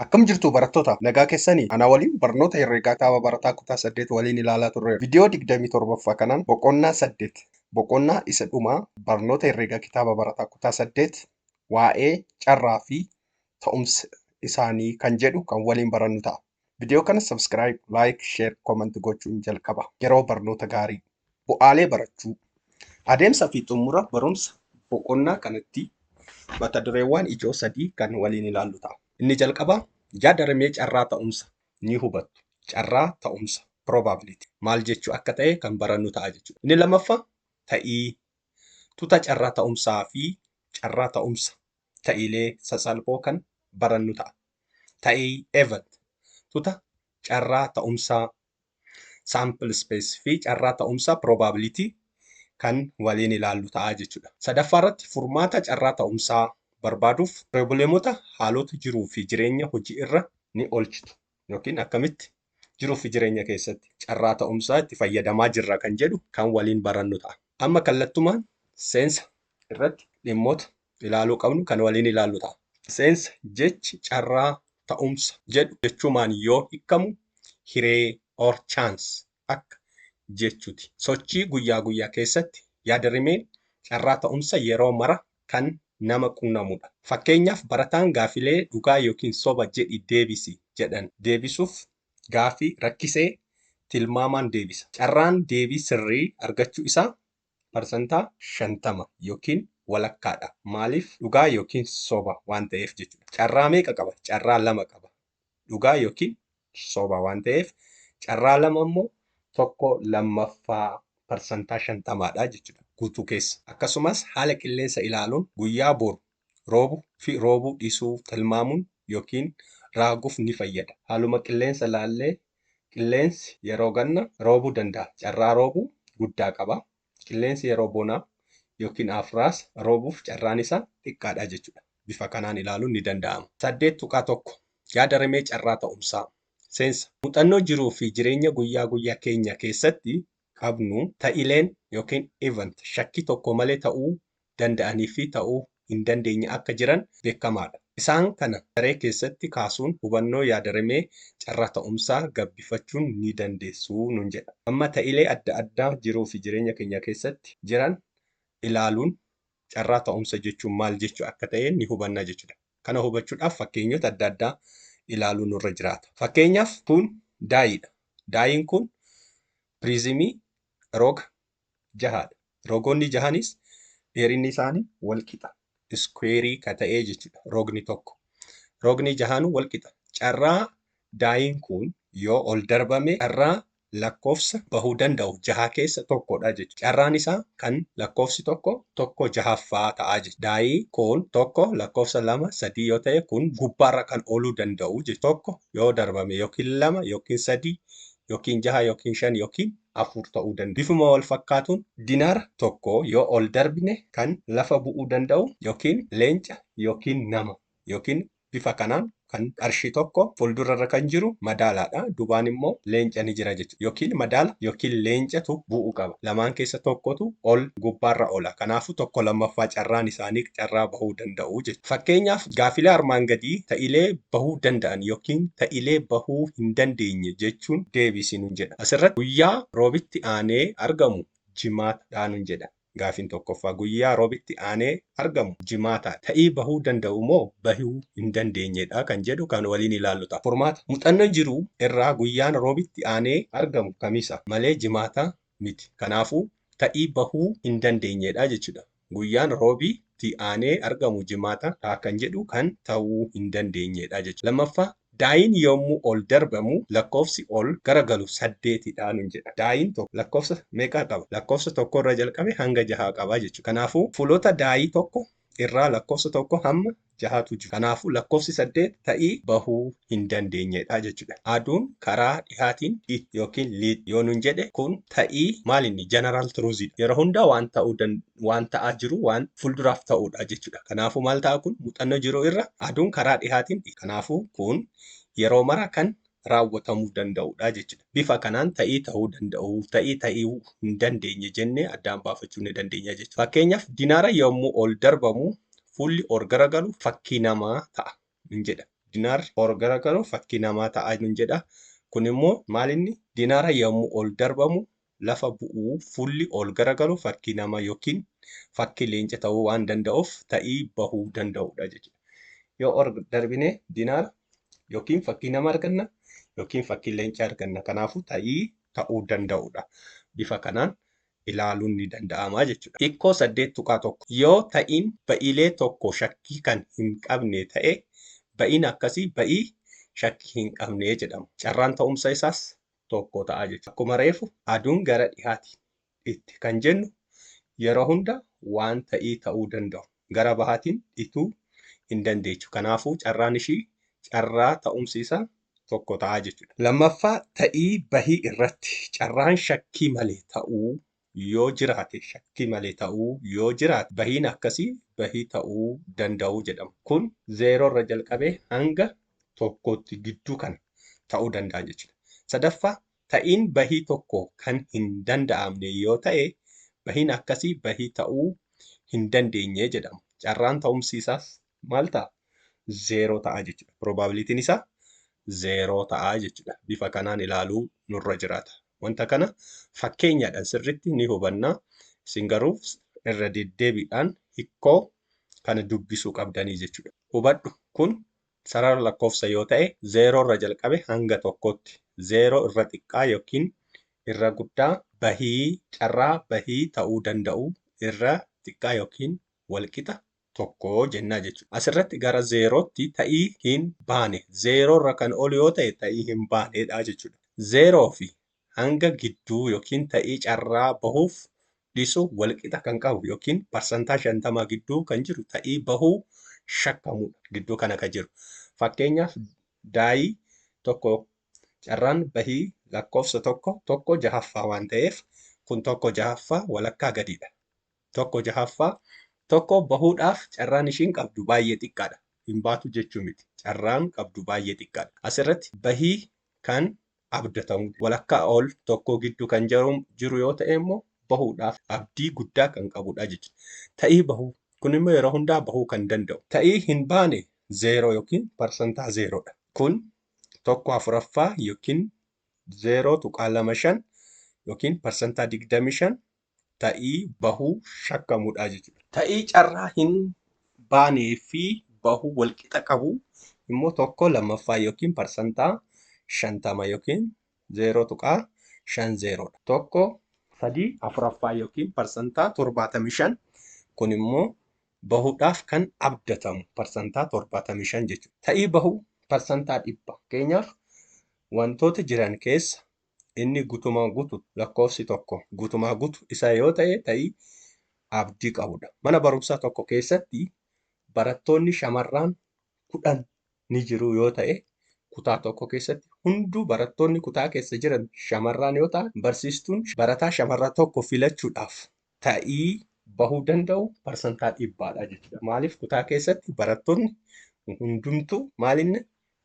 Akkam jirtuu barattoota? Nagaa kessanii? Anaa waliin barnoota herreegaa kaaba barataa kutaa 8 waliin ilaalaa turreerra. Vidiyoo 27ffaa kanaan boqonnaa 8 boqonnaa isa dhumaa barnoota herreegaa kitaaba barataa kutaa 8 waa'ee carraa fi ta'umsa isaanii kan jedhu kan waliin barannu ta'a. Vidiyoo kana subscribe, like, share, comment gochuun jalqaba. Yeroo barnoota gaarii! Bu'aalee barachuu. Adeemsa fi xumura barumsa boqonnaa kanatti mata dureewwan ijoo sadii kan waliin ilaallu ta'a. Inni jalqabaa yaada rimee carraa ta'umsa ni hubattu. Carraa ta'umsa probability maal jechuu akka ta'e kan barannu ta'a jechuudha. Inni lammaffaa ta'ii tuta carraa ta'umsaa fi carraa ta'umsa ta'iilee sasalphoo kan barannu ta'a. Ta'ii event tuta carraa ta'umsaa sample space fi carraa ta'umsa probability kan waliin ilaallu ta'a jechuudha. Sadaffaa irratti furmaata carraa ta'umsaa barbaaduuf piroobleemota haalota jiruu fi jireenya hojii irra ni oolchitu yookiin akkamitti jiruu fi jireenya keessatti carraa ta'umsaa itti fayyadamaa jirra kan jedhu kan waliin barannu ta'a. Amma kallattumaan seensa irratti dhimmoota ilaaluu qabnu kan waliin ilaallu ta'a. Seensa, Jechi carraa, ta'umsa, jedhu jechumaan yoo hikkamu hiree, or chance, akka jechuti. Sochii guyyaa guyyaa keessatti yaadrimeen carraa ta'umsa yeroo mara kan nama qunnamudha. Fakkeenyaaf barataan gaafilee dhugaa ykn soba jedhi deebisi jedhan deebisuuf gaafii rakkisee tilmaamaan deebisa. Carraan deebii sirrii argachuu isaa parsantaa. 50 ykn walakkaa dha. Maaliif? Dhugaa ykn soba waan ta'eef jechuudha. Carraa meeqa qaba? Carraa lama qaba. Dhugaa ykn soba waan ta'eef carraa lama immoo. tokko lammaffaa parsantaa 50 dha jechuudha guutuu keessa. Akkasumas haala qilleensa ilaaluun guyyaa boru roobu fi roobuu dhisuu tilmaamuun yookiin raaguuf ni fayyada. Haaluma qilleensa laallee qilleensi yeroo ganna roobuu danda'a carraa roobuu guddaa qaba. Qilleensi yeroo bonaa yookiin aafraas roobuuf carraan isaa xiqqaadha jechuudha. Bifa kanaan ilaaluun ni danda'ama. 8.1 Yaada rimee carraa ta'umsaa. Seensa. Muxannoo jiruu fi jireenya guyyaa guyyaa keenya keessatti qabnu ta'ileen ykn event shakkii tokko malee ta'uu danda'anii fi ta'uu hin dandeenye akka jiran beekamaa dha. Isaan kana daree keessatti kaasuun hubannoo yaadarimee carraa ta'umsaa gabbifachuun ni dandeessu nuun jedha. Amma ta'ilee adda addaa jiruu fi jireenya keenya keessatti jiran ilaaluun carraa ta'umsa jechuun maal jechuu akka ta'e ni hubanna jechuu dha. Kana hubachuudhaaf fakkeenyota adda addaa ilaaluu nurra jiraata. Fakkeenyaaf kun daayiidha. Daayiin kun piriizimii roga jahaadha. Rogoonni jahanis dheerinni isaanii walqixa. Iskuweerii ka ta'ee jechuudha rogni tokko. Rogni jahaanuu walqixa. Carraa daayiin kun yoo ol darbame carraa lakkoofsa bahuu danda'u jahaa keessa tokko dha jechuudha. Carraan isaa kan lakkoofsi tokko tokko jahaffaa ta'a jechuudha. Daa'ii kun tokko lakkoofsa lama sadii yoo ta'e kun gubbaarra kan ooluu danda'u jechuudha. Tokko yoo darbame yookiin lama yookiin sadii yookiin jaha yookiin shan yookiin afur ta'uu danda'a. Bifuma wal fakkaatuun dinaara tokko yoo ol darbine kan lafa bu'uu danda'u yookiin leenca yookiin nama yookiin Bifa kanaan kan qarshii tokko fuuldura irra kan jiru madaalaadha. Dubaan immoo leenca ni jira jechuudha. Yookiin madaala yookiin leencatu bu'u qaba. Lamaan keessa tokkotu ol gubbaarra oola. Kanaafuu tokko lammaffaa carraan isaanii carraa bahuu danda'u jechuudha. Fakkeenyaaf gaaffilee armaan gadii ta'ilee bahuu danda'an yookiin ta'ilee bahuu hin dandeenye jechuun deebisi nun jedha. Asirratti guyyaa roobitti aanee argamu jimaata dha nun jedha. Gaafiin tokkoffaa, guyyaa Robitti aanee argamu Jimaata ta'ii bahuu danda'u moo bahuu hin dandeenye dha kan jedhu kan waliin ilaallu ta'a. Furmaata, Muxanno jiru irraa guyyaan Robitti aanee argamu Kamisa malee Jimaata miti. Kanaafuu, ta'ii bahuu hin dandeenye dha jechu dha. Guyyaan Robi tti aanee argamu Jimaata ta'a kan jedhu kan ta'uu hin dandeenye dha jechu dha. Lammaffaa, Daayiin yommuu ol darbamu lakkoofsi ol gara galu 8 dha nun jedha. Daayiin tokko lakkoofsa meeqa qaba? Lakkoofsa 1 irraa jalqabee hanga 6 qaba jechuudha. Kanaafuu fuulota daayii 1 irraa lakkoofsa 1 hamma 6 tu jiru. Kanaafuu lakkoofsi 8 ta'ii bahuu hin dandeenye dha jechuudha. Aduun karaa dhihaatiin dhih ykn liix yoo nun jedhe kun ta'ii maal inni? General truth dha. Yeroo hundaa waan ta'uu danda'u. waan ta'aa jiru waan fulduraaf ta'uudha jechuudha. Kanaafuu maal ta'a kun muuxannoo jiru irra aduun karaa dhihaatiin kanaafuu kun yeroo mara kan raawwatamuu danda'uudha jechuudha. Bifa kanaan ta'ii ta'uu danda'u, ta'ii ta'uu hin dandeenye jennee addaan baafachuu ni dandeenya jechuudha. Fakkeenyaaf dinaara yommuu ol darbamu fuulli or garagalu fakkii namaa ta'a nun jedha. Dinaarri or garagalu fakkii namaa ta'a nun jedha. Kun immoo maalinni dinaara yommuu ol darbamu lafa bu'uu fuulli ol garagalu fakkii nama yookiin fakkii leenca ta'uu waan danda'uuf ta'ii bahuu danda'udha jechuudha. Yoo ol darbine dinaara yookiin fakkii nama arganna yookiin fakkii leenca arganna. Kanaafuu ta'ii ta'uu danda'udha. Bifa kanaan ilaaluun ni danda'ama jechuudha. Hikkoo 8.1 Yoo ta'iin ba'iilee tokko shakkii kan hin qabne ta'e ba'iin akkasii ba'ii shakkii hin qabne jedhama. Carraan ta'umsa isaas tokko ta'a jechuudha. Akkuma reefu aduun gara dhihaati dhitti kan jennu yeroo hunda waan ta'ii ta'uu danda'u gara bahaatiin dhituu hin dandeechu. Kanaafuu carraan ishii carraa ta'umsi isaa tokko ta'a jechuudha. Lammaffaa ta'ii bahii irratti carraan shakkii malee ta'uu yoo jiraate shakkii malee ta'uu yoo jiraate bahiin akkasii bahii ta'uu danda'uu jedhama. Kun zeeroo irra jalqabee hanga tokkootti gidduu kana ta'uu danda'a jechuudha. Sadaffaa ta'iin bahii tokko kan hin danda'amne yoo ta'e bahiin akkasii bahii ta'uu hin dandeenye jedhama. Carraan ta'umsi isaas maal ta'a? Zeeroo ta'a jechuudha. Probabilitiin isaa zeeroo ta'a jechuudha. Bifa kanaan ilaaluu nurra jiraata. Wanta kana fakkeenyaadhaan sirriitti ni hubanna. Isin garuu irra deddeebiidhaan hikkoo kana dubbisuu qabdanii jechuudha. Hubadhu kun sarara lakkoofsa yoo ta'e zeeroo irra jalqabe hanga tokkootti zeeroo irra xiqqaa yookiin irra guddaa bahii carraa bahii ta'uu danda'u irra xiqqaa yookiin walqixa tokko jennaa jechuudha. Asirratti gara zeerootti ta'ii hin baane. Zeeroo irra kan ol yoo ta'e ta'ii hin baaneedha jechuudha. Zeeroo fi hanga gidduu yookiin ta'ii carraa bahuuf dhisu walqixa kan qabu yookiin parsantaa shantamaa gidduu kan jiru ta'ii bahuu shakkamudha. Gidduu kana kan jiru. Fakkeenyaaf daayii tokko carraan bahii lakkoofsa tokko tokko jahaffaa waan ta'eef kun tokko jahaffaa walakkaa gadiidha. tokko jahaffaa tokko bahuudhaaf carraan ishiin qabdu baay'ee xiqqaadha. Hin baatu jechuu miti. Carraan qabdu baay'ee xiqqaadha. Asirratti bahii kan abdatamu walakkaa ol tokkoo gidduu kan jiru yoo ta'e immoo bahuudhaaf abdii guddaa kan qabudha jechuudha. Ta'ii bahuu kun immoo yeroo hundaa bahuu kan danda'u. Ta'ii hin baane zeeroo yookiin parsantaa zeeroodha. Kun tokko afuraffaa yookiin zeeroo tuqaa lama shan yookiin parsantaa digdamii shan ta'ii bahuu shakkamudha jechuudha. Ta'ii carraa hin baanee fi bahuu walqixa qabu immoo tokko lammaffaa yookiin parsantaa 50 yookiin 0.50 dha. Tokko sadii afuraffaa yookiin parsantaa 75 kun immoo bahuudhaaf kan abdatamu parsantaa 75 jechuudha. Ta'ii bahuu parsantaa dhibba. Fakkeenyaaf wantoota jiran keessa Inni gutumaa gutu lakkoofsi tokko gutumaa gutu isaa yoo ta'e ta'ii abdii qabudha. Mana barumsaa tokko keessatti barattoonni shamarraan kudhan ni jiru yoo ta'e kutaa tokko keessatti hunduu barattoonni kutaa keessa jiran shamarraan yoo ta'an barsiistuun barataa shamarraa tokko filachuudhaaf ta'ii bahuu danda'u parsantaa dhibbaadha jechuudha. Maaliif kutaa keessatti barattoonni hundumtuu maalinni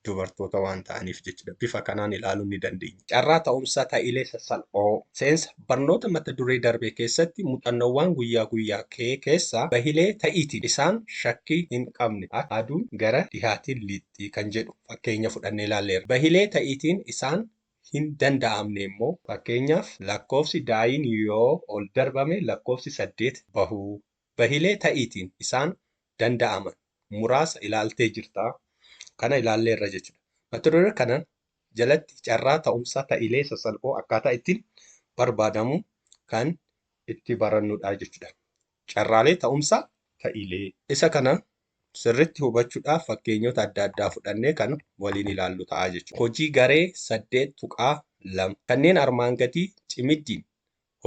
dubartoota waan ta'aniif jechuudha. Bifa kanaan ilaaluun ni dandeenya. Carraa ta'umsa ta'iilee sassalphoo seensa barnoota mata duree darbee keessatti muuxannoowwaan guyyaa guyyaa kee keessaa bahilee ta'iitiin isaan shakkii hin qabne akka aduun gara dhihaatiin lixxi kan jedhu fakkeenya fudhannee ilaalleerra. Bahilee ta'iitiin isaan hin danda'amne immoo. Fakkeenyaaf, lakkoofsi daa'iin yoo ol darbame lakkoofsi 8 bahuu. Bahilee ta'iitiin isaan danda'aman muraasa ilaaltee jirta. Kana ilaalleerra jechuudha. Mata duree kana jalatti carraa ta'umsa ta'ilee sasalphoo akkaataa ittiin barbaadamu kan itti barannudha jechuudha. Carraalee ta'umsa ta'ilee. Isa kana Sirritti hubachudhaaf fakkeenyota adda addaa fudhannee kan waliin ilaallu ta'a jechuudha. Hojii garee 8.2. Kanneen armaan gadii cimiddiin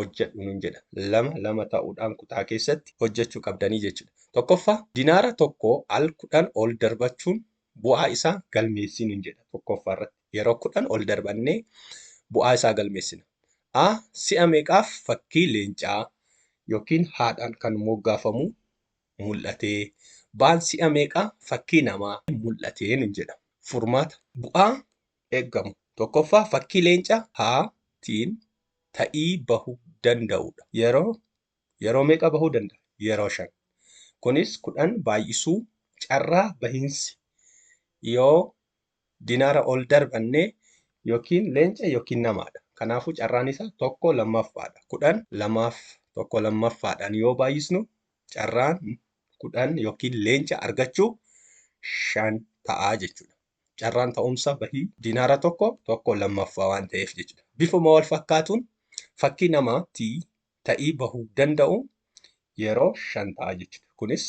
hojjedhu nun jedha. Lama lama ta'uudhaan kutaa keessatti hojjechuu qabdanii jechuudha. Tokkoffaa, dinaara tokko al 10 ol darbachuun bu'aa isaa galmeessii nun jedha. Tokkoffaa irratti yeroo 10 ol darbannee bu'aa isaa galmeessina. A. Si'a meeqaaf fakkii leencaa yookiin haadhaan kan moggaafamu mul'atee, baan si'a meeqaa fakkii namaa mul'atee nun jedha. Furmaata. Bu'aa eeggamu. Tokkoffaa fakkii leenca A tiin ta'ii bahu danda'uudha. Yeroo yeroo meeqa bahuu danda'a? Yeroo shan. Kunis kudhan baay'isuu carraa bahinsi yoo dinaara ol darbannee yookiin leenca yookiin namaadha. Kanaafuu carraan isaa tokko lammaffaadha. Kudhan lamaaf tokko lammaffaadhaan yoo baay'isnu carraan kudhan yookiin leenca argachuu shan ta'a jechuudha. Carraan ta'umsa bahii dinaara tokko tokko lammaffaa waan ta'eef jechuudha. Bifuma wal fakkaatuun fakkii namaa T ta'ii bahuu danda'u yeroo shan ta'a jechuudha. Kunis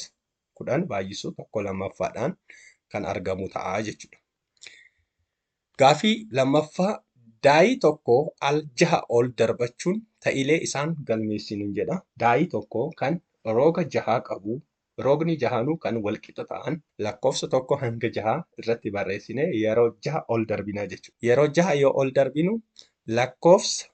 10 baay'isuu 1 lammaffaadhaan kan argamu ta'a jechuudha. Gaafii lammaffaa daayii tokko al jaha ol darbachuun ta'ilee isaan galmeessinu jedha. Daayii tokko kan rooga jahaa qabu roogni jahaanuu kan walqixa ta'an lakkoofsa tokko hanga jahaa irratti barreessine yeroo jaha ol darbina jechuudha. Yeroo jaha yoo ol darbinu lakkoofsa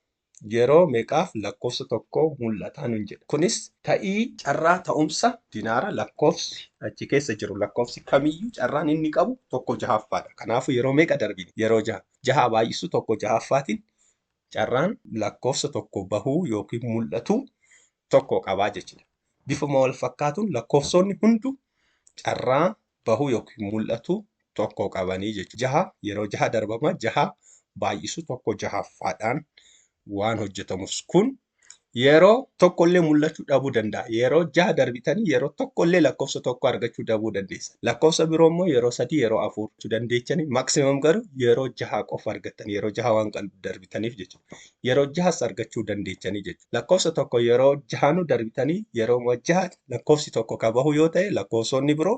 yeroo meqaaf lakkofsa tokko mul'ata nun jedha. Kunis ta'ii carraa ta'umsa dinaara lakkofsi achi keessa jiru lakkofsi kamiyyuu carraan inni qabu tokko jahaffaadha. Kanaafu yeroo meeqa darbine? Yeroo jaha. Jahaa baay'isu tokko jahaffaatin carraan lakkofsa tokko bahuu ykn mul'atu tokko qabaa jechudha. Bifuma wal fakkaatun lakkofsoonni hundu carraa bahu yookiin mul'atu tokko qabanii jechuudha. Jaha yeroo jaha darbama jaha baay'isu tokko jahaffaadhaan waan hojjetamus kun yeroo tokkollee mul'achuu dhabuu danda'a. Yeroo jaha darbitanii yeroo tokkollee lakkoofsa tokko argachuu dhabuu dandeessa. Lakkoofsa biroo immoo yeroo sadii yeroo afur dandeechanii maksimam garuu yeroo jaha qofa argattan yeroo jaha waan darbitaniif jechuudha. yeroo jahas argachuu dandeechanii jechuudha. Lakkoofsa tokko yeroo jahanuu darbitanii yerooma jaha lakkoofsi tokko ka bahu yoo ta'e lakkoofsonni biroo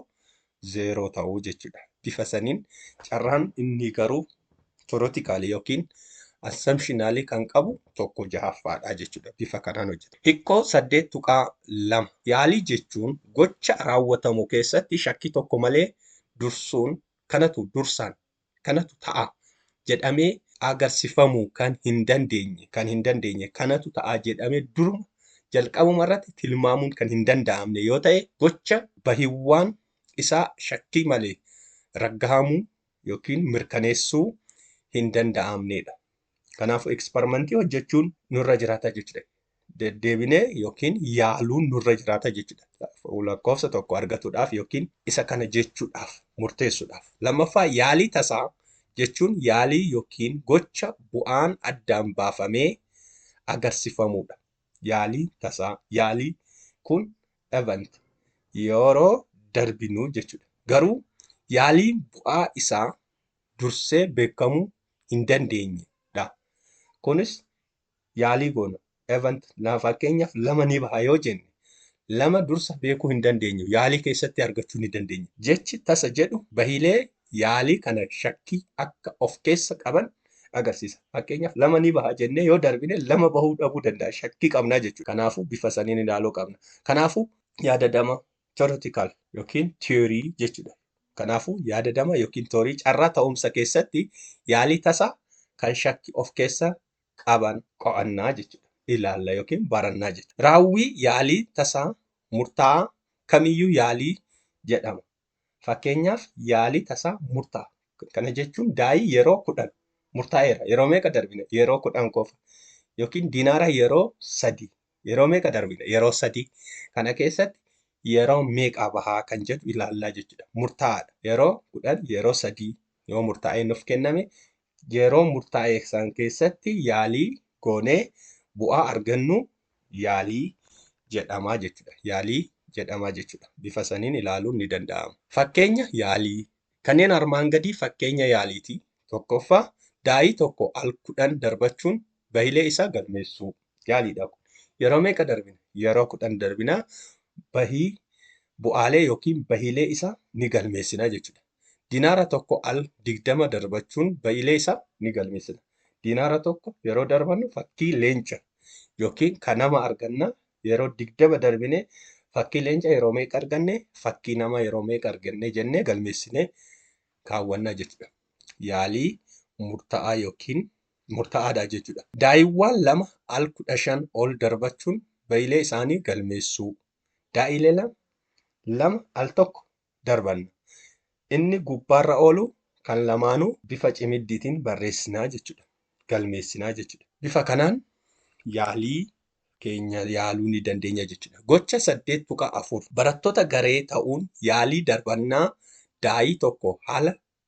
zeeroo ta'uu jechuudha. Bifa saniin carraan inni garuu torotikaalii yookiin assumptionaalii kan qabu tokko jahaffaadha jechuudha. Bifa kanaan hojjeta. Hikkoo saddeet tuqaa lama yaalii jechuun gocha raawwatamu keessatti shakkii tokko malee dursuun kanatu dursaan kanatu ta'a jedhamee agarsifamuu kan hin dandeenye kan hin dandeenye kanatu ta'a jedhame duruma jalqabuma irratti tilmaamuun kan hin danda'amne yoo ta'e gocha bahiwwaan isaa shakkii malee raggahamuu yookiin mirkaneessuu hin danda'amneedha. Kanaafuu ekspermantii hojjechuun nurra jiraata jechuudha. Deddeebinee yookiin yaaluun nurra jiraata jechuudha. Lakkoofsa tokko argatuudhaaf yookiin isa kana jechuudhaaf murteessuudhaaf. Lammaffaa yaalii tasaa jechuun yaalii yookiin gocha bu'aan addaan baafamee agarsifamuudha. Yaalii tasaa yaalii kun event yeroo darbinuu jechuudha. Garuu yaaliin bu'aa isaa dursee beekamuu hin dandeenye dha. Kunis yaalii goona. Event lama fakkeenyaaf lama ni baha yoo jenne lama dursa beekuu hin dandeenyu. Yaalii keessatti argachuu ni dandeenya. Jechi tasa jedhu bahiilee yaalii kana shakkii akka of keessa qaban agarsiisa. Fakkeenyaaf lama ni baha jennee yoo darbine lama bahuu dhabuu danda'a. Shakkii qabna jechuudha. Kanaafuu bifa saniin ilaaluu qabna. Kanaafuu yaadadama Theoretical yookiin theory jechuudha. Kanaafuu yaadadama yookiin toorii carraa ta'umsa keessatti yaalii tasa kan shakki of keessa qaban qo'annaa jechuudha. Ilaalla yookiin barannaa jechuudha. Raawwii yaalii tasaa murtaa'aa kamiyyuu yaalii jedhama. Fakkeenyaaf yaalii tasaa murtaa. Kana jechuun daayii yeroo kudhan murtaa'eera. Yeroo meeqa darbine? Yeroo kudhan qofa. Yookiin dinaara yeroo sadii Yeroo meeqa darbina? Yeroo sadii. Kana keessatti yeroo meeqaa bahaa kan jedhu ilaallaa jechuudha. Murtaa'aadha. Yeroo kudhan yeroo sadii yoo murtaa'ee nuuf kenname yeroo murtaa'ee san keessatti yaalii goonee bu'aa argannu yaalii jedhamaa jechuudha. Yaalii jedhamaa jechuudha. Bifa saniin ilaaluun ni danda'ama. Fakkeenya yaalii. Kanneen armaan gadii fakkeenya yaaliiti. Tokkoffaa, daa'ii tokko al kudhan darbachuun bahilee isaa galmeessuu. Yaaliidha kun. Yeroo meeqa darbina? Yeroo kudhan darbina bahii bu'aalee yookiin bahiilee isaa ni galmeessina jechuudha. Dinaara tokko al digdama darbachuun bahiilee isaa ni galmeessina. Dinaara tokko yeroo darbannu fakkii leenca yookiin kan nama arganna yeroo digdama darbine fakkii leenca yeroo meeqa arganne fakkii nama yeroo meeqa arganne jennee galmeessinee kaawwanna jechuudha. Yaalii murtaa'aa yookiin murtaa'aadha jechuudha. Daa'iiwwaan lama al kudha shan ol darbachuun ba'ilee isaanii galmeessuu. Daa'iileela lama al tokko darbanna. Inni gubbaarra oolu kan lamaanuu bifa cimiddiitiin barreessinaa jechuudha. Galmeessinaa jechuudha. Bifa kanaan yaalii keenya yaaluu ni dandeenya jechuudha. Gocha 8.4 Barattoota garee ta'uun yaalii darbannaa daa'ii tokko haala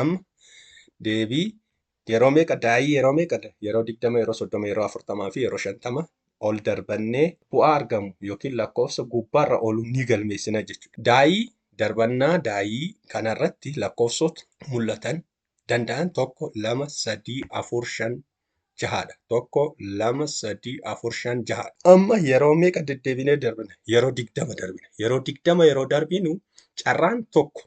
Amma deebii yeroo meeqa daa'ii yeroo meeqa yeroo digdama yeroo soddoma yeroo afurtamaa fi yeroo shantama ol darbannee bu'aa argamu yookiin lakkoofsa gubbaarra oolu ni galmeessina jechuudha. Daa'ii darbannaa daa'ii kanarratti lakkoofsota mul'atan danda'an tokko lama sadii afur shan jahaadha. Tokko lama sadii afur shan jahaadha. Amma yeroo meeqa deddeebinee darbina? Yeroo digdama darbina. Yeroo digdama yeroo darbinu carraan tokko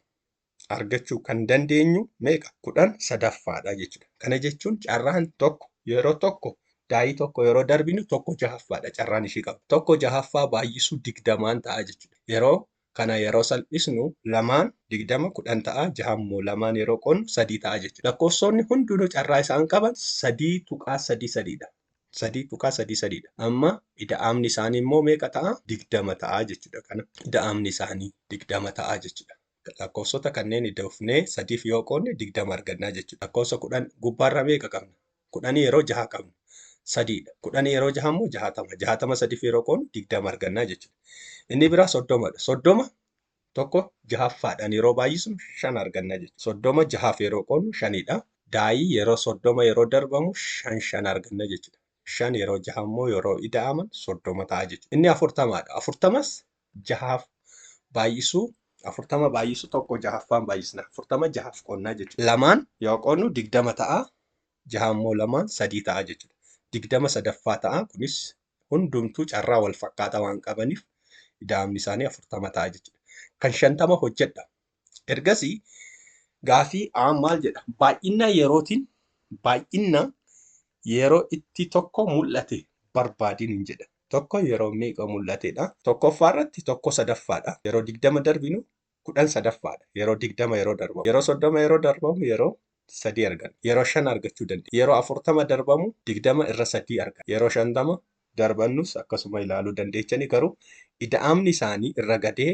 argachuu kan dandeenyu meeqa? Kudhan sadaffaadha jechuudha. Kana jechuun carraan tokko yeroo tokko daayii tokko yeroo darbinu tokko jahaffaadha carraan ishii qabu. Tokko jahaffaa baay'isuu digdamaan ta'a jechuudha. Yeroo kana yeroo salphisnu lamaan digdama kudhan ta'a jahan immoo lamaan yeroo qonnu sadii ta'a jechuudha. Lakkoofsoonni hundinuu carraa isaan qaban sadii tuqaa sadii sadiidha. Sadii tuqaa sadii sadiidha. Amma ida'amni isaanii immoo meeqa ta'a? Digdama ta'a jechuudha. Kana ida'amni isaanii digdama ta'a jechuudha. Lakkoofsota kanneen idda fufnee sadiif yoo qoodne digdama argannaa jechuudha. Lakkoofsa kudhan gubbaarraa meeqa qabna? Kudhanii yeroo jaha qabna. Sadiidha. Kudhanii yeroo jaha immoo jahatama. Jahatama sadiif yeroo qoodnu digdama argannaa jechuudha. Inni biraa soddomadha. Soddoma tokko jahaffaadhaan yeroo baay'isnu shan argannaa jechuudha. Soddoma jahaaf yeroo qoodnu shanidha. Daa'ii yeroo soddoma yeroo darbamu shan shan arganna jechuudha. Shan yeroo jaha immoo yeroo ida'aman soddoma ta'a jechuudha. Inni afurtamaadha. Afurtamas jahaaf baay'isuu afurtama baay'isu tokko jahaffaan baay'isna afurtama jahaaf qonnaa jechuudha. Lamaan yoo qonnu digdama ta'a jaha immoo lamaan sadii ta'a jechuudha. Digdama sadaffaa ta'a kunis hundumtuu carraa wal fakkaataa waan qabaniif ida'amni isaanii afurtama ta'a jechuudha. Kan shantama hojjedha Ergasii gaafii A maal jedha? Baay'inna yerootiin baay'inna yeroo itti tokko mul'ate barbaadin hin jedha. Tokko yeroo meeqa mul'atedha? Tokkoffaa irratti tokko sadaffaadha. Yeroo digdama darbinu kudhan sadaffaadha. Yeroo digdama yeroo darbamu. Yeroo soddoma yeroo darbamu yeroo sadii arganna. Yeroo shan argachuu dandeenya. Yeroo afurtama darbamu digdama irra sadii arganna. Yeroo shantama darbannus akkasuma ilaaluu dandeechani garuu ida'amni isaanii irra gadee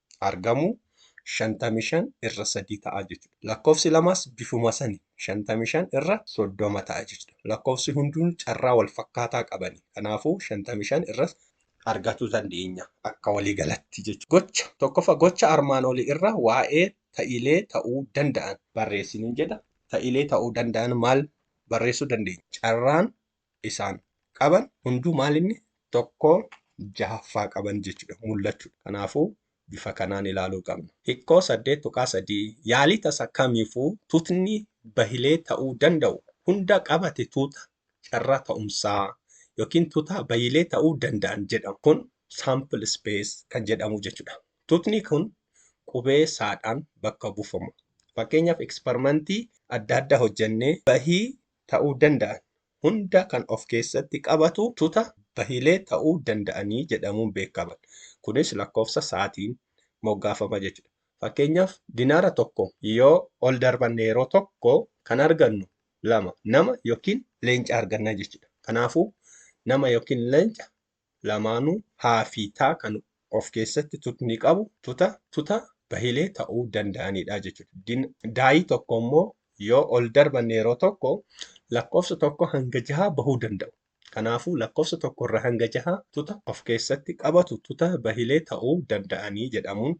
argamu 55 irra 3 ta'a jechuudha. Lakkoofsi lamaas bifuma sani 55 irra 30 ta'a jechuudha. Lakkoofsi hunduu carraa wal fakkaataa qabani. Kanaafuu 55 irra argatuu dandeenya akka walii galatti jechuudha. Gocha tokkoffaa gocha armaan oli irra waa'ee ta'ilee ta'uu danda'an. barreessi nin jedha. Ta'ilee ta'uu danda'an maal barreessuu dandeenya? Carraan isaan qaban hunduu maal inni tokkoo jahaffaa qaban jechuudha mul'achuu kanaafuu bifa kanaan ilaaluu qabna. Hikkoo 8.3 Yaalii tasa kamiifuu tutni bahilee ta'uu danda'u hunda qabate tuuta carraa ta'umsaa yookiin tutaa bahilee ta'uu danda'an jedhamu. Kun sample space kan jedhamu jechuudha. Tutni kun qubee saadhaan bakka buufama. Fakkeenyaaf eksperimentii adda addaa hojjennee bahii ta'uu danda'an hunda kan of keessatti qabatu tuta bahilee ta'uu danda'anii jedhamuun beekaman. Kunis lakkoofsa saatiin moggaafama jechuudha. Fakkeenyaaf dinaara tokko yoo ol darbanne yeroo tokko kan argannu lama nama yookiin leenca arganna jechuudha. Kanaafuu nama yookiin leenca lamaanuu haa fi ta kan of keessatti tutni qabu tuta tuta bahilee ta'uu danda'aniidha jechuudha. Din, daayii tokko immoo yoo ol darbanne yeroo tokko lakkoofsa tokko hanga jahaa bahuu danda'u. Kanaafuu lakkoofsa tokko irra hanga jahaa tuta of keessatti qabatu tuta bahilee ta'uu danda'anii jedhamuun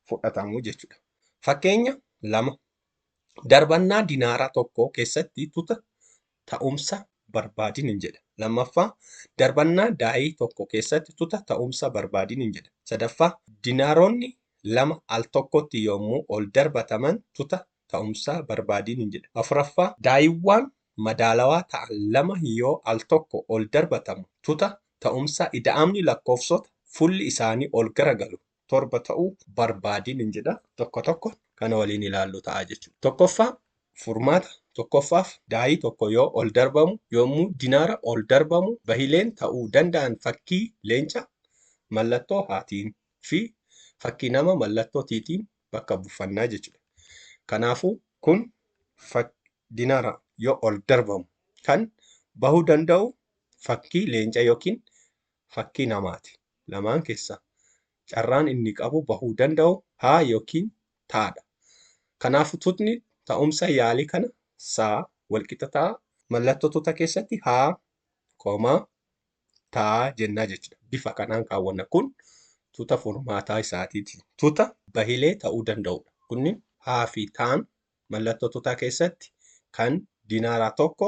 fudhatamu jechuudha. Fakkeenya lama darbannaa dinaaraa tokkoo keessatti tuta ta'umsa barbaadin jedha. Lammaffaa, darbannaa daa'ii tokko keessatti tuta ta'umsa barbaadin jedha. Sadaffaa, dinaaroonni lama al tokkotti yoommuu ol darbataman tuta ta'umsa barbaadin jedha. Afuraffaa, daa'iiwwaan madaalawaa ta'an lama yoo al tokko ol darbatamu tuta ta'umsa ida'amni lakkoofsota fulli isaanii ol garagalu torba ta'uu barbaadi nin jedha. Tokko tokko kana waliin ilaallu ta'a jechuudha. Tokkoffaa furmaata tokkoffaaf daayii tokko yoo ol darbamu yommuu dinaara ol darbamu bahileen ta'uu danda'an fakkii leenca mallattoo haatiin fi fakkii nama mallattoo tiitiin bakka buufannaa jechuudha. Kanaafuu kun dinaara yoo ol darbamu kan bahuu danda'u fakkii leenca yookiin fakkii namaati. Lamaan keessaa carraan inni qabu bahuu danda'u ha ykn ta dha. Kanaafu tutni ta'umsa yaalii kana sa walqixa ta'a. Mallattoo tuta keessatti ha, koma, ta jenna jechudha. Bifa kanaan kaawwanna. Kun tuta furmaataa isaatiiti. Tuta bahilee ta'uu danda'udha. Kunnin ha fi taan mallattoo tutaa keessatti kan dinaaraa tokko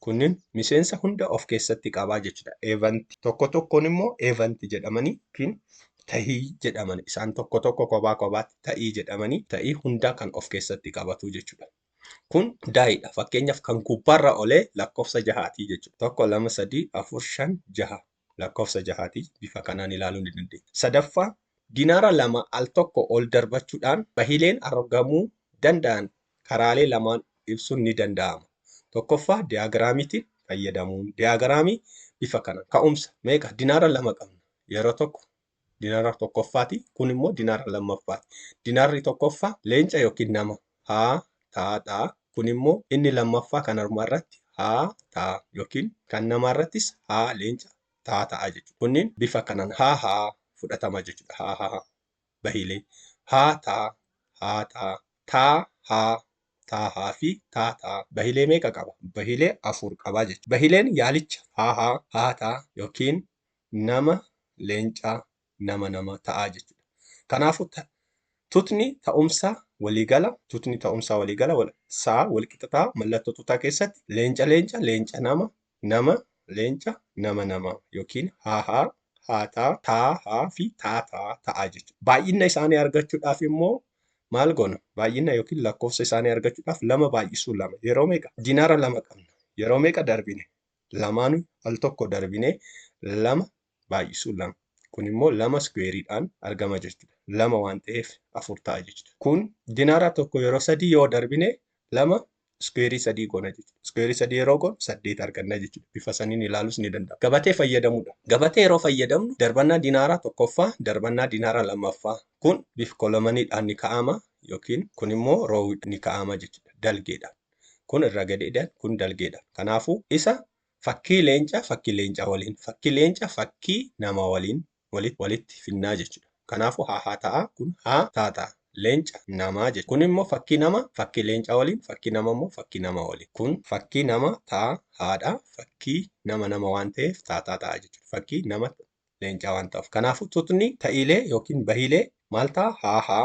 Kunniin miseensa hunda of keessatti qaba jechuudha. Event. Tokko tokkoon immoo event jedhamanii yookiin ta'ii jedhaman isaan tokko tokko kophaa kophaatti ta'ii jedhamanii ta'ii hundaa kan of keessatti qabatu jechuudha. Kun daayiidha. Fakkeenyaaf kan gubbaarra olee lakkoofsa jahaatii jechuudha. Tokko, lama, sadii, afur, shan, jaha. lakkoofsa jahaati. Bifa kanaan ilaaluu ni dandeenya. Sadaffaa, dinaara lama al tokko ol darbachuudhaan bahiileen argamuu danda'an karaalee lamaan ibsuun ni danda'ama. Tokkoffaa diyaagiraamiitiin fayyadamuun. Diyaagiraamii bifa kanaan ka'umsa meeqa dinaara lama qabna yeroo tokko Dinaara tokkoffaati. Kun immoo dinaara lammaffaati. Dinaarri tokkoffaa leenca yookiin nama. Haa taa dha. Kun immoo inni lammaffaa kan harmaa irratti haa taa yookiin kan namaa irrattis haa leenca taa ta'a jechuudha. Kunniin bifa kanaan haa haa fudhatama jechuudha. Haa haa bahiilee haa taa haa taa taa haa taa haa fi taa taa bahiilee meeqa qaba? Bahiilee afur qaba jechuudha. Bahiileen yaalicha haa haa haa taa yookiin nama leencaa nama nama ta'aa jechuudha. Kanaafuu ta, tutni ta'umsa waliigala tutni ta'umsa waliigala wal, saa walqixa ta'a mallattoo tutaa keessatti leenca leenca leenca nama nama leenca nama nama yookiin haa haa haa taa taa haa fi taa taa ta'aa jechuudha. Baay'inna isaanii argachuudhaaf immoo maal goona? Baay'inna yookiin lakkoofsa isaanii argachuudhaaf lama baay'isuu lama yeroo meeqa? Dinaara lama qabna yeroo meeqa darbine? lamaanu al tokko darbine lama baay'isuun lama. Kun immoo lama iskuweeriidhaan argama jechuudha. Lama waan ta'eef afur ta'a jechuudha. Kun dinaara tokko yeroo sadii yoo darbine lama iskuweerii sadii goona jechuudha. Iskuweerii sadii yeroo goonu saddeet arganna jechuudha. Bifa saniin ilaalus ni danda'ama. Gabatee fayyadamuudha. Gabatee yeroo fayyadamnu darbannaa dinaaraa tokkoffaa, darbannaa dinaaraa lammaffaa kun bif kolomaniidhaan ni ka'ama yookiin kun immoo roowidhaan ni ka'ama jechuudha. Dalgeedhaan. Kun irra gadiidhaan kun dalgeedha. Kanaafuu isa fakkii leencaa fakkii leencaa waliin fakkii leenca fakkii nama waliin walitti walitti finnaa jechuudha. Kanaafuu haa haa ta'a kun haa taa ta'a. Leenca namaa jechuudha. Kun immoo fakkii nama fakkii leencaa waliin fakkii nama immoo fakkii nama waliin. Kun fakkii nama taa haadha fakkii nama nama waan ta'eef taa taa ta'a jechuudha. Fakkii nama leencaa waan ta'uuf. Kanaafuu tutni ta'iilee yookiin bahiilee maal ta'a haa haa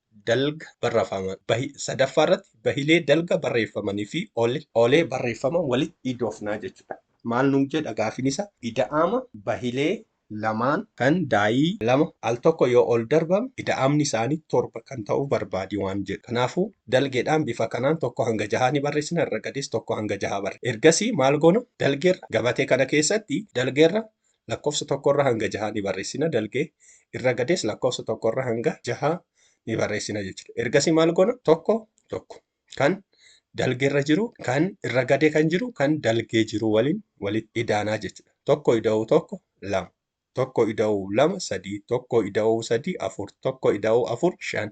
dalga barrafaman bahi sadaffaa irratti bahilee dalga barreeffamanii fi ole olee barreeffaman walitti idoofnaa jechuudha. Maal nuun jedha gaafiin isa ida'ama bahilee lamaan kan daayii lama al tokko yoo ol darbame ida'amni isaanii torba kan ta'u barbaadi waan jedhu. Kanaafuu dalgeedhaan bifa kanaan tokko hanga jahaa ni barreessina irra gadiis tokko hanga jahaa barre. Ergasii maal goona dalgeerra gabatee kana keessatti dalgeerra Lakkofsa 1 irra hanga 6 ni barreessina dalgee irra gadees lakkofsa 1 irra hanga 6 ni barreessina jechuudha. Ergasii maal goona? Tokko tokko kan dalgee irra jiru kan irra gadee kan jiru kan dalgee jiru waliin walitti idaanaa jechuudha. Tokko ida'uu tokko lama. Tokko ida'uu lama sadii. Tokko ida'uu sadii afur. Tokko ida'uu afur shan.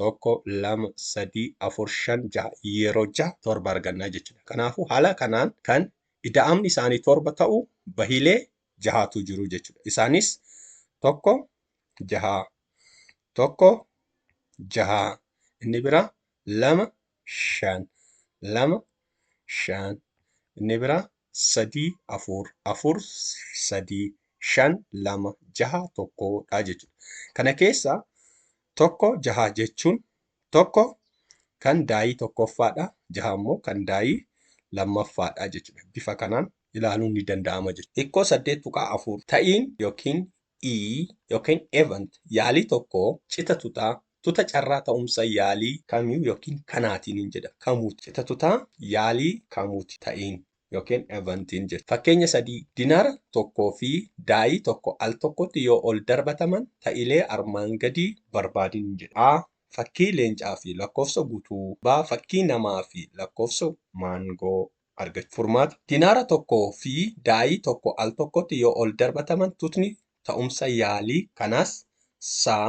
tokko lama sadii afur shan jaha yeroo jaha torba argannaa jechuudha. Kanaafuu haala kanaan kan ida'amni isaanii torba ta'u bahilee jahaatu jiru jechuudha. Isaanis tokko jahaa tokko jahaa inni biraa lama shan lama shan inni biraa sadii afur afur sadii shan lama jaha tokkodha jechuudha. Kana keessaa tokko jaha jechuun tokko kan daayii tokkoffaadha jaha immoo kan daayii lammaffaadha jechuudha bifa kanaan ilaaluun ni danda'ama jechuudha. Hikkoo 8.4 ta'iin yookiin ii yookiin event yaalii tokko cita tutaa tuta carraa ta'umsa yaalii kamiu yookiin kanaatiin hin jedha kamuuti cita tutaa yaalii kamuuti ta'iin. yookiin eventiin jechuudha. Fakkeenya 3, Dinaara tokkoo fi daayii tokko al tokkotti yoo ol darbataman ta'ilee armaan gadii barbaadin jedhame. A. Fakkii leencaa fi lakkoofsa gutuu B. Fakkii namaa fi lakkoofsa maangoo argachuu. Furmaata, Dinaara tokkoo fi daayii tokko al tokkotti yoo ol darbataman tutni ta'umsa yaalii kanaas saa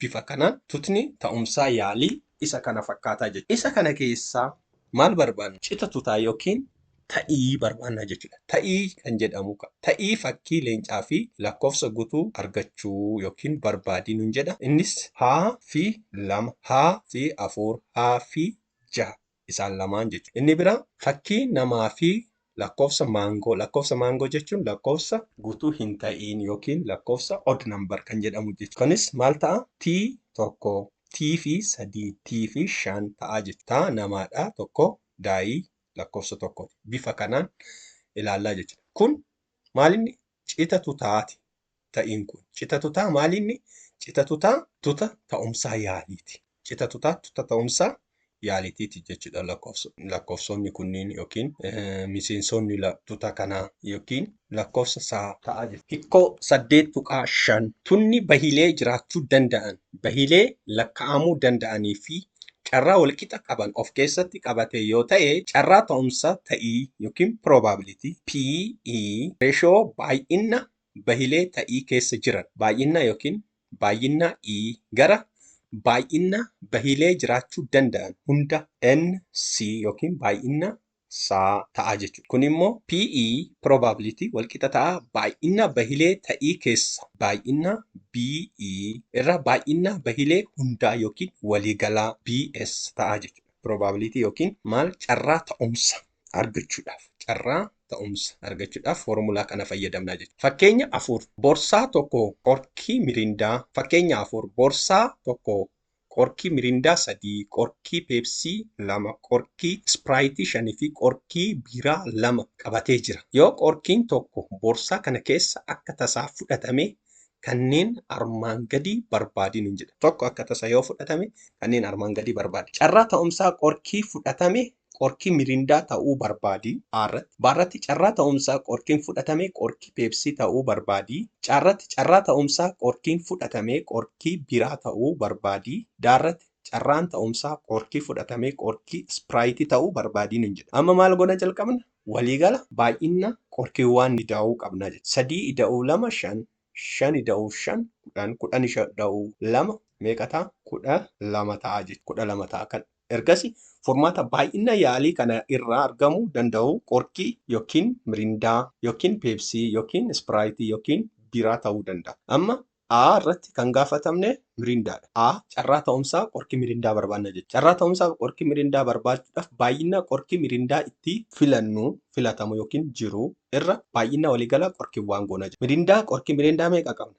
Bifa kanaan tutni ta'umsaa yaalii isa kana fakkaataa jechuudha. Isa kana keessaa maal barbaanna? Cita tutaa yookiin ta'ii barbaanna jechuudha. Ta'ii kan jedhamu kaa. Ta'ii fakkii leencaa fi lakkoofsa gutuu argachuu yookiin barbaadi nun jedha. Innis, H fi 2, H fi 4, H fi 6. isaan lamaan jechuudha. Inni biraa fakkii namaa fi lakkoofsa maangoo, lakkoofsa maangoo jechuun lakkoofsa guutuu hin ta'iin yookiin lakkoofsa odd number kan jedhamu jechuudha. Kunis maal ta'a? T tokko, T fi sadii, T fi shan ta'a jechuudha. Taa namaadha tokko daa'ii lakkoofsa tokkooti. Bifa kanaan ilaallaa jechuudha. Kun maalinni Cita tutaa ti ta'iin kun. Cita tutaa maali inni? Cita tutaa. Tuta ta'umsaa yaaliiti. Cita tutaa tuta ta'umsaa yaalitiiti jechu dha lakkoofsoonni kunniin yookiin miseensoonni tuta kanaa yookiin lakkoofsa saa. ta'a jechu. Hikkoo 8.5 Tunni bahilee jiraachuu danda'an, bahilee lakka'amuu danda'anii fi carraa walqixa qaban of keessatti qabate yoo ta'e carraa ta'umsa ta'ii ykn probability, PE, ratio baay'inna bahilee ta'ii keessa jiran, baay'inna ykn baay'inna E, gara baay'inna bahilee jiraachuu danda'an hunda, NC, ykn baay'inna isaa ta'a jechuudha. Kun immoo PE, probability, walqixa ta'a baay'inna bahilee ta'ii keessa baay'inna BE irra baay'inna bahilee hundaa yookiin waliigalaa BS ta'a jechuudha. Probability yookiin maal carraa ta'umsa argachuudhaaf carraa ta'umsa argachuudhaaf foormulaa kana fayyadamna jechuudha. Fakkeenya 4 borsaa tokko qorkii mirindaa Fakkeenya 4 borsaa tokko Qorkii Mirindaa 3, Qorkii Peepsii 2, Qorkii Ispiraayitii 5 fi Qorkii Biiraa 2 qabatee jira. Yoo Qorkiin tokko boorsaa kana keessa akka tasaa fudhatame kanneen armaan gadii barbaadi nuun jedhan. Tokko akka tasa yoo fudhatame kanneen armaan gadii barbaadi. Carraa ta'umsaa Qorkii fudhatame Qorki Mirindaa ta'uu barbaadi, A irratti. B irratti carraa ta'umsaa qorkiin fudhatame qorki Peepsii ta'uu barbaadi. C irratti carraa ta'umsaa qorkiin fudhatame qorki Biiraa ta'uu barbaadi. D irratti carraan ta'umsaa qorki fudhatame qorki Ispiraayitii ta'uu barbaadi nuun jedhe. Amma maal goona jalqabna? Waliigala baay'inna qorkiwwaan ida'uu qabna jechuudha. 3 ida'uu 2 5, 5 ida'uu 5 10, 10 ida'uu 2 meeqa ta'a? 12 ta'a jechuudha. 12 ta'a kan. Ergasi furmaata baay'inna yaalii kana irraa argamu danda'u qorkii ykn mirindaa ykn peepsii ykn ispiraayitii ykn biiraa ta'uu danda'a. Amma A irratti kan gaafatamne mirindaa dha. A, Carraa ta'umsaa qorkii mirindaa barbaadna jechuudha. Carraa ta'umsaa qorkii mirindaa barbaachuudhaaf baay'inna qorkii mirindaa itti filannu, filatamu ykn jiru, irra baay'inna waliigalaa qorkiiwwaan goona jechuudha. Mirindaa, qorkii mirindaa meeqa qabna?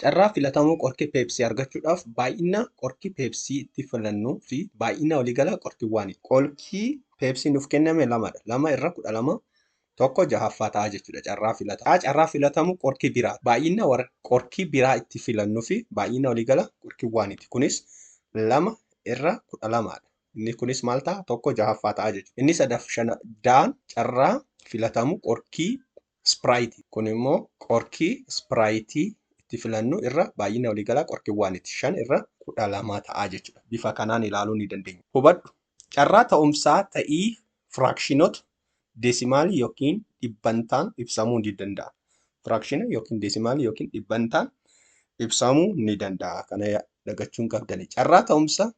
Carraa filatamuu qorki Pepsi argachuudhaaf baay'ina qorki Pepsi itti filannu fi baay'ina waliigalaa qorkiwwaani. Qorki Pepsi nuuf kenname lamadha. Lama irra 12 tokko jahaffaa ta'a jechuudha. Carraa filata. A. Carraa filatamuu qorki biraati. Baay'ina qorki biraa itti filannu fi baay'ina waliigala qorkiwwaaniti. Kunis 2 irra 12 dha. Inni kunis maal ta'a? Tokko jahaffaa ta'a jechuudha. Inni sadaffaan D. Carraa filatamuu qorki Sprite, kun immoo qorkii Sprite itti filannu irra baay'ina waliigalaa qorkiwwaaniti. 5 irra 12 ta'a jechuudha. Bifa kanaan ilaaluu ni dandeenya. Hubadhu, Carraa ta'umsaa ta'ii firaakshinota deesimaalii ykn dhibbantaan ibsamuu ni danda'a. Firaakshina ykn deesimaalii ykn dhibbantaan ibsamuu ni danda'a. Kana dagachuu hin qabdani. Carraa ta'umsa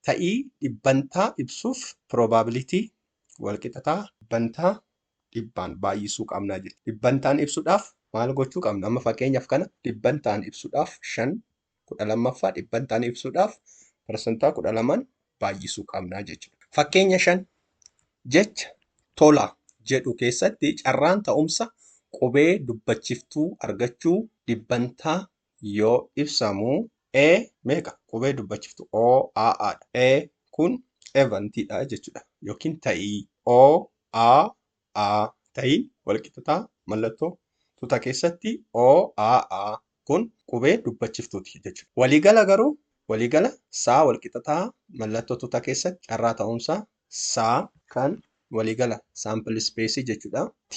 ta'ii dhibbantaa ibsuuf probability walqixa ta'a. Dhibbantaa dhibbaan baay'isuu qabna jechuudha. Dhibbantaan ibsuudhaaf maal gochuu qabna? Amma fakkeenyaaf kana dhibbantaan ibsuudhaaf shan kudha lammaffaa dhibbantaan ibsuudhaaf parsantaa kudha lamaan baay'isuu qabna jechuudha. Fakkeenya shan jecha tola jedhu keessatti carraan ta'umsa qubee dubbachiftuu argachuu dhibbantaa yoo ibsamu e meeqa qubee dubbachiftu o a a dha. e kun event dha jechuudha yookiin ta'ii. o a a ta'iin walqixxataa mallattoo tuta keessatti o a a kun qubee dubbachiftuuti jechuudha. Waliigala garuu waliigala saa walqixxataa mallattoo tuta keessatti carraa ta'uunsaa saa. kan waliigala sample space jechuudha. T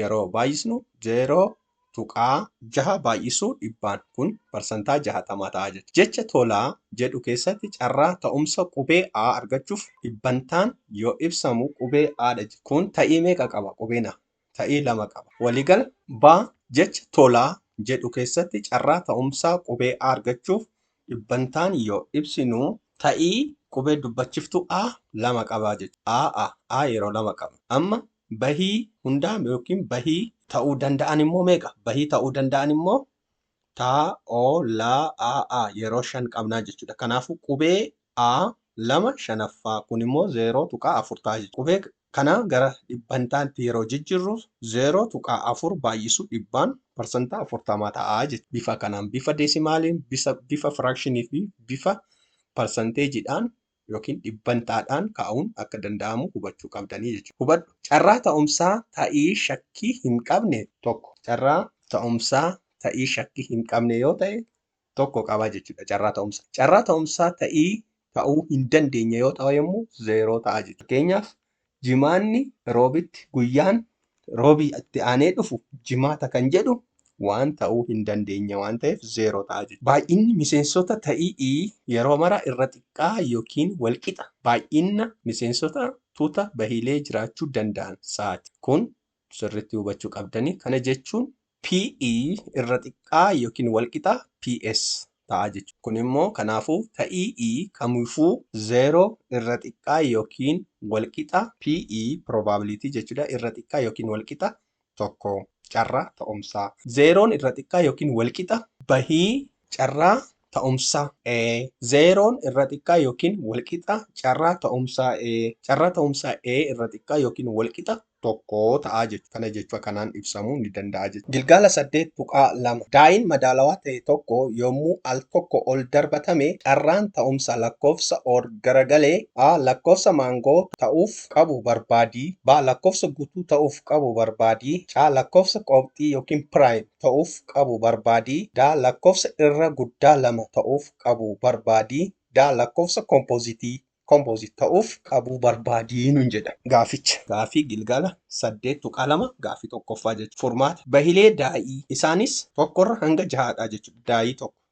yeroo baay'isnu 0.6 baay'isuu dhibbaan kun parsantaa 60 ta'a jechuudha. Jecha tolaa jedhu keessatti carraa ta'umsa qubee a argachuuf dhibbantaan yoo ibsamu qubee a dha jechuudha. Kun ta'ii meeqa qaba qubeen a? Ta'ii 2 qaba. Waliigala. B. Jecha tolaa jedhu keessatti carraa ta'umsaa qubee a argachuuf dhibbantaan yoo ibsinu. Ta'ii qubee dubbachiftuu a 2 qaba jechuudha. A, a, a yeroo 2 qabna. Amma Bahii hundaa yookiin bahii ta'uu danda'an immoo meeqa? Bahii ta'uu danda'an immoo ta, o, la, a, a yeroo shan qabnaa jechuudha. Kanaafuu qubee a lama shanaffaa kun immoo 0.4 ta'a jechuudha. Qubee kana gara dhibbantaatti yeroo jijjirru 0.4 baay'isu dhibbaan parsantaa 40 ta'a jechuudha. Bifa kanaan bifa deesimaaliin, bifa firaakshinii fi bifa parsanteejiidhaan ykn dhibbantaadhaan kaa'uun akka danda'amu hubachuu qabdanii jechuudha. Hubadhu, Carraa ta'umsaa ta'ii shakkii hin qabne 1. Carraa ta'umsaa ta'ii shakkii hin qabne yoo ta'e 1 qaba jechuudha. Carraa ta'umsaa. Carraa ta'umsaa ta'ii ta'uu hin dandeenye yoo ta'emmoo 0 ta'a jechuudha. Fakkeenyaaf, Jimaanni Roobitti guyyaan Roobii itti aanee dhufu Jimaata kan jedhu waan ta'uu hin dandeenye waan ta'eef 0 ta'a jechuudha. Baay'inni miseensota ta'i'i yeroo mara irra xiqqaa yookiin walqixa baay'inna miseensota tuuta bahiilee jiraachuu danda'an saati. Kun sirriitti hubachuu qabdanii. Kana jechuun PE irra xiqqaa yookiin walqixa PS ta'a jechuudha. Kun immoo kanaafuu ta'ii E kamiifuu 0 irra xiqqaa yookiin walqixa PE probability jechuudha irra xiqqaa yookiin walqixa tokko carraa ta'umsaa. Zeeroon irra xiqqaa yookiin walqixa bahii carraa ta'umsa A. Zeeroon irra xiqqaa yookiin walqixa carraa ta'umsa A. Carraa ta'umsa A irra xiqqaa yookiin walqixa tokko ta'a jechuudha. Kana jechuun kanaan ibsamuu ni danda'a jechuudha. Gilgaala 8.2 Daa'iin madaalawaa ta'e tokko yommuu al tokko ol darbatame carraan ta'umsa lakkoofsa or garagalee A. Lakkoofsa maangoo ta'uuf qabu barbaadi. B. Lakkoofsa guutuu ta'uuf qabu barbaadi. C. Lakkoofsa qoophxii yookiin piraayim. ta'uuf qabu barbaadi da Lakkofsa irra guddaa lama ta'uuf qabu barbaadi da Lakkofsa kompozitii, composite, ta'uuf qabu barbaadi nun jedha. Gaaficha. Gaafii Gilgala 8.2 Gaafii 1ffaa jechuun. Furmaata. Bahilee daa'ii. Isaanis 1 irra hanga 6 dha jechuudha. Daa'ii 1.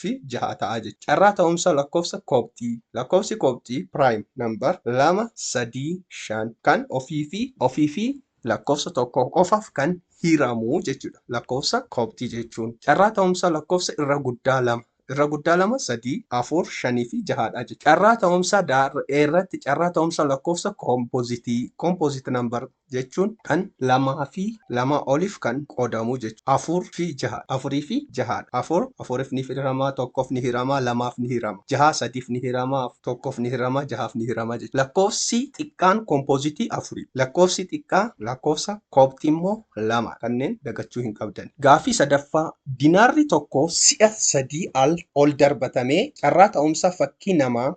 fi jahaa ta'a jechuudha. Carraa ta'umsa lakkoofsa koobxii, lakkoofsi koobxii, prime number, 2, 3, 5 kan ofii fi. ofii fi lakkoofsa tokkoo qofaaf kan hiramu jechuudha lakkoofsa koobxii jechuun. Carraa ta'umsa lakkoofsa irra guddaa 2, irra guddaa 2, 3, 4, 5 fi jahaa dha jechuudha. Carraa ta'umsa daar'eerratti carraa ta'umsa lakkoofsa koompozitii, composite number, jechuun kan lamaa fi lamaa oliif kan qoodamu jechuudha. afur fi jaha dha. afurii fi jaha dha. afur afuriif ni hirama, tokkoof ni hirama, lamaaf ni hirama. jaha sadiif ni hirama, tokkoof ni hirama, jahaaf ni hirama jechuudha. Lakkoofsi xiqqaan kompozitii afuri dha. Lakkoofsi xiqqaa lakkoofsa koobxii immoo lama dha. Kanneen dagachuu hin qabdani. Gaaffii sadaffaa, Dinaarri tokko si'a sadii al ol darbatamee carraa ta'umsa fakkii namaa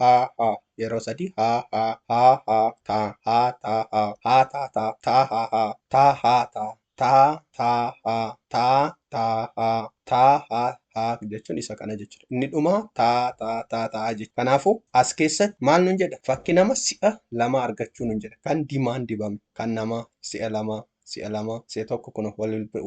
haa haa yeroo sadii haa haa haa haa taa haa taa haa haa taa taa taa haa haa taa haa taa taa taa haa taa taa haa taa haa haa jechuun isa kana jechuudha. Inni dhumaa taa taa taa taa jechuudha. Kanaafuu as keessatti maal nun jedha fakki nama si'a lama argachuu nun jedha kan dimaan dibame kan namaa si'a lamaa si'a lama, si'a tokko kun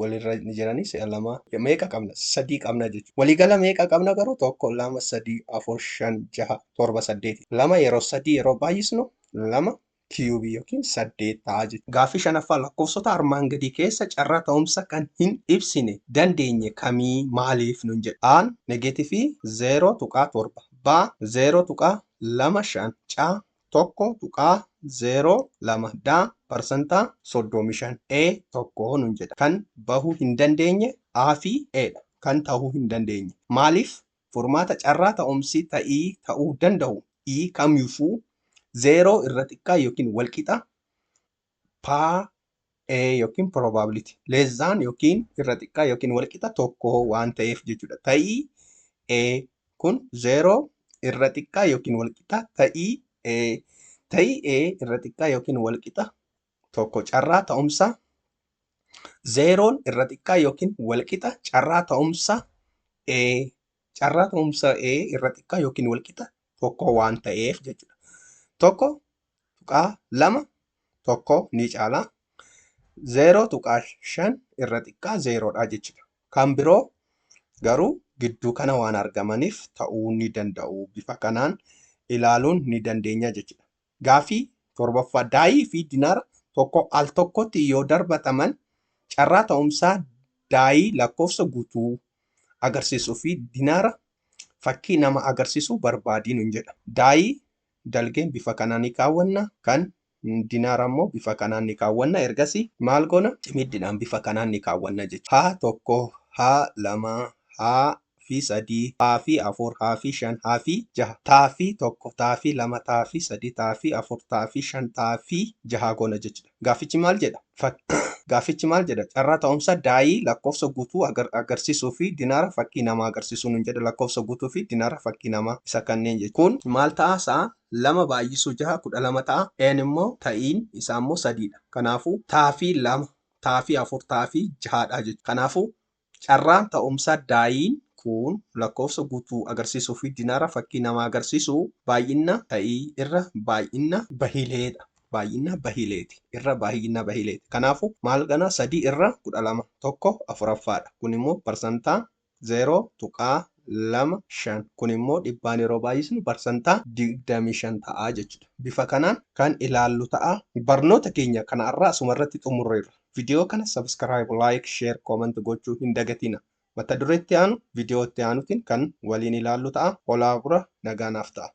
walirra ni jiranii si'a lama meeqa qabna sadii qabna jechuudha. Waliigala meeqa qabna garuu tokko lama sadii afur shan jaha torba saddeeti. Lama yeroo sadii yeroo baay'isnu lama kiyuubii yookiin saddeet ta'a jechuudha. Gaaffii shanaffaa lakkoofsota armaan gadii keessa carraa ta'umsa kan hin ibsine dandeenye kamii maaliif nun jedha. A'n negeetifii 0.7 B'a 0.25 C'a 1.02 da parsantaa 35 e 1 nun jedha kan bahu hin dandeenye a fi e dha kan ta'uu hin dandeenye maaliif furmaata carraa ta'umsi ta'ii ta'uu danda'u i kamyufuu 0 irra xiqqaa yookiin walqixa Pa, e yookiin probability less than yookiin irra xiqqaa yookiin walqixa tokko waan ta'eef jechuudha. Ta'ii e kun 0 irra xiqqaa yookiin walqixa ta'ii e ta'ii e irra xiqqaa yookiin walqixa tokko carraa ta'umsa zeeroon irra xiqqaa yookiin walqixa carraa ta'umsa e carraa ta'umsa e irra xiqqaa yookiin walqixa tokkoo waan ta'eef jechuudha. Tokko tuqaa lama tokkoo ni caala. Zeeroo tuqaa shan irra xiqqaa zeeroodha jechuudha. Kan biroo garuu gidduu kana waan argamaniif ta'uu ni danda'u. Bifa kanaan ilaaluun ni dandeenya jechuudha. Gaaffii 7ffaa Daayii fi dinaara tokko al tokkotti yoo darbataman carraa ta'umsaa daayii lakkoofsa guutuu agarsiisu fi dinaara fakkii nama agarsiisu barbaadi nun jedha. Daayii dalgeen bifa kanaan ni kaawwanna, kan dinaara immoo bifa kanaan ni kaawwanna. Ergasi maal goona? Cimiddidhaan bifa kanaan ni kaawwanna jechuudha. H1, H2, H3, fi sadii taa fi afur haa fi shan haa fi jaha taa fi tokko taa fi lama taa fi sadii taa fi afur taa fi shan taa fi jaha goona jechudha. Gaaffichi maal jedha? Fak. Gaaffichi maal jedha? Carraa ta'umsa daayii lakkoofsa guutuu agar agarsiisuu fi dinaara fakkii namaa agarsiisuu nuun jedha. Lakkoofsa guutuu fi dinaara fakkii namaa isa kanneen jechu kun maal ta'a sa'a lama baay'isuu jaha kudha lama ta'a. N immoo ta'iin isaa immoo sadii dha. Kanaafuu taa fi lama taa fi afur taa fi jaha dha jechu. Kanaafuu Carraan ta'umsa daayiin kun lakkoofsa guutuu agarsiisuu fi dinaara fakkii namaa agarsiisu baay'inna ta'ii irra baay'inna bahilee dha. baay'inna bahileeti. irra baay'inna bahileeti. Kanaafuu maal ganaa 3 irra 12 tokko afuraffaa dha. Kun immoo parsantaa 0.25 kun immoo dhibbaan yeroo baay'isnu parsantaa 25 ta'a jechuudha. Bifa kanaan kan ilaallu ta'a. Barnoota keenya kana har'aa asuma irratti xumurreerra. Video kana subscribe, like, share, comment gochuu hin dagatina. Mata duree itti aanu video itti aanutiin kan waliin ilaallu ta'a. Holaa bura nagaa naaf ta'a.